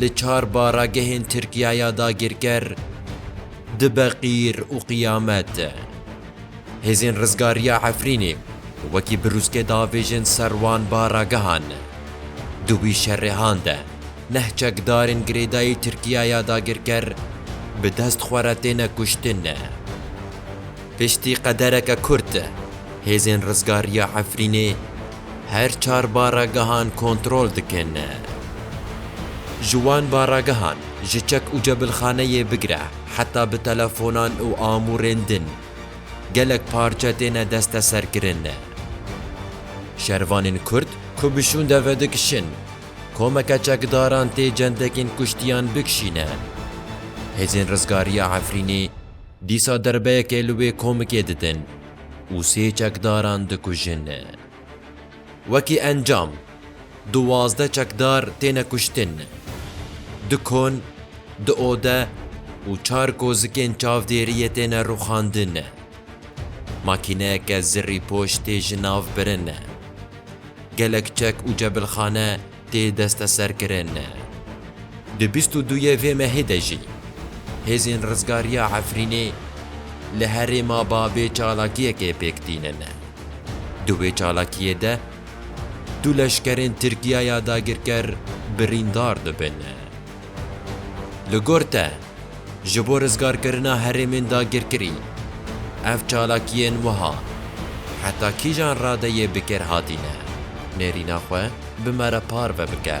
li çar baragehên Tirkiya ya dagirker dibe qîr û qiyamet. Hêzên Rizgariya Efrînê wekî birûzke davêjin ser wan baragehan. Di wî şerêhan de neh çekdarên girêdayî Tirkiya ya dagirker bi dest xwe re têne kuştin. Piştî qedereke kurt, Hêzên Rizgariya Efrînê, Her çar barragehan kontrol dikin. Ji wan barragehan ji çek û cebilxaneyê bigire heta bi telefonan û amûrên din gelek parçe têne desteserkirin. Şervanên Kurd ku bi şûnde vedikişin, komeke çekdaran tê cendekên kuştiyan bikişîne. Hêzên Rizgariya Efrînê dîsa derbeyekê li wê komikê didin. û sê çekdaran dikujin. Wekî encam duwazdeh çekdar têne kuştin. Du kon, du ode û çar kozikên çavdêriyê têne rûxandin. Makîneyeke zirrîpoş tê ji nav birin. Gelek çek û cebilxane tê desteserkirin. Di bîst û duyê vê mehê de jî hêzên rizgariya Efrînê li herêma bavê çalakiyekê pêk tînin. Di wê çalakiyê de du leşkerên Tirkiyaya dagirker birîndar dibin. Li gor te, ji bo rizgarkirina herêmên dagirkirî, ev çalakiyên wiha heta kîjan radeyê bi kêr hatîne? Nêrîna xwe bi me re parve bike.